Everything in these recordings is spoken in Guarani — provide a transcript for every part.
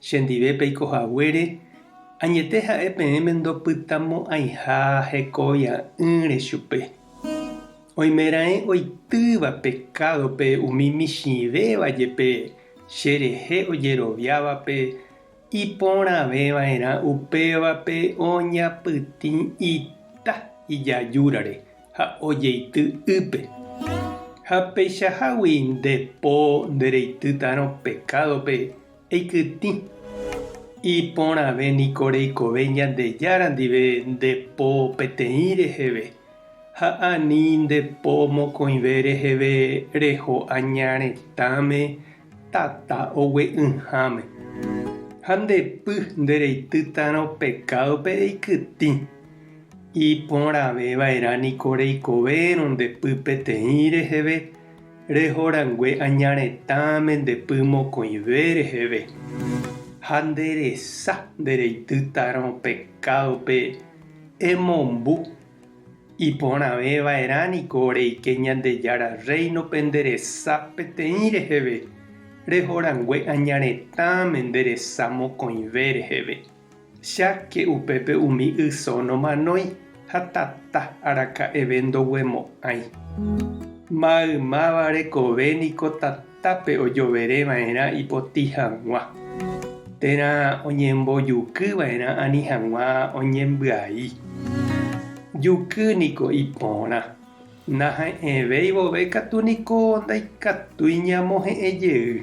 Chendive peiko haguére, añete ha'e peẽme ndopytamo'ãiha hekovia'ỹre chupe. Oimeraẽ oitýva pekádope umi michĩvéva jepe che rehe ojeroviávape iporãveva'erã upévape oñapytĩ ita ijajúrare ha ojeity ýpe. Ha peichahágui nde po ndereitýtarõ pekádope Eikytĩ. Iporãve niko reikove Ñandejára ndive nde po peteĩ reheve, ha ani nde po mokõive reheve reho aña retãme tata ogue'ỹháme. Ha nde py nde reitýtarõ pekádope eikytĩ. Iporãve vaerã niko reikovérõ nde py peteĩ reheve, reho rangue aña retã mendepy mokõive reheve, ha nde resa nde reitýtarõ pekádope emombu, iporãve va'erã niko reike Ñandejára Rréinope nde resa peteĩ reheve, reho rangue aña retã mende resa mokõive reheve. Cháke upépe umi yso nomanói ha tata araka'eve ndoguemo'ãi. Maymáva rekove niko tatápe ojovere va'erã ipotĩ hag̃ua, térã oñembojuky va'erã ani hag̃ua oñembyai. Juky niko ipórã, naha'ẽvéi vove katu niko ndaikatúi ñamohe'ẽ jey.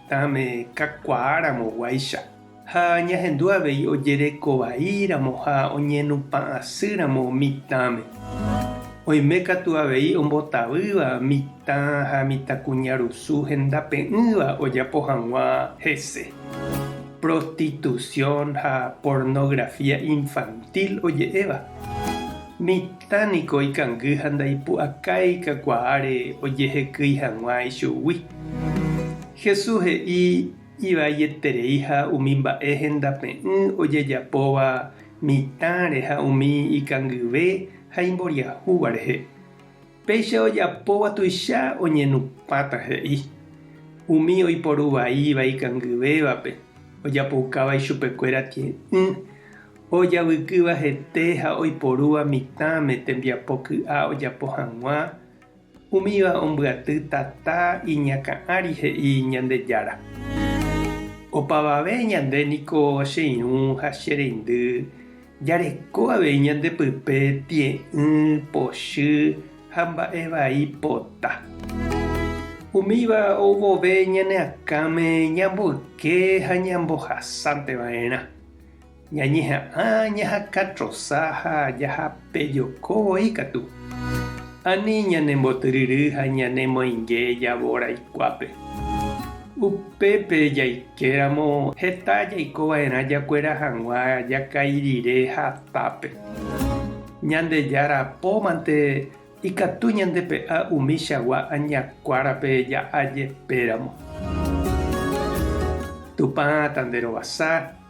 Ame kakuaáramo guáicha, ha ñahendu avei ojereko vaíramo ha oñenupã'asýramo mitãme. Oime katu avei ombotavýva mitã ha mitãkuñarusu hendape'ỹva ojapo hag̃ua hese. Prostitución ha pornografía infantil oje'éva. Ta niko ikangy ha ndaipu'akái kakuaáre ojehekýi hag̃ua ichugui. Jesús he'i ivaieterei ha umi mba'e hendape'ỹ ojejapóva mitãre ha umi ikangyve ha imboriahúva rehe. Péicha ojapóva tuicha oñenupãta he'i. Umi oiporuvaíva ikangyvévape ojapoukáva ichupekuéra tie'ỹ. Ojavykýva hete ha oiporúva mitãme tembiapo ky'a ojapo hag̃ua, umíva ombyaty tata iñakã'ári he'i Ñandejára. Opavave ñande niko che irũ ha che reindy jareko avei ñande pype tie'ỹ, pochy ha mba'e vai pota. Umíva ou vove ñane akãme ñamboyke ha ñambohasánte va'erã. Ñañeha'ã ñahaka trosa ha jahapejoko voi katu. Ani ñanembotyryry ha ñanemoinge javo raikuápe. Upépe jaike ramo heta jaiko va'erã jakuera hag̃ua jakãi rire hatápe. Ñandejára pómante ikatu ñandepe'a umichagua añakuárape ja'a jepe ramo. Tupã tanderovasa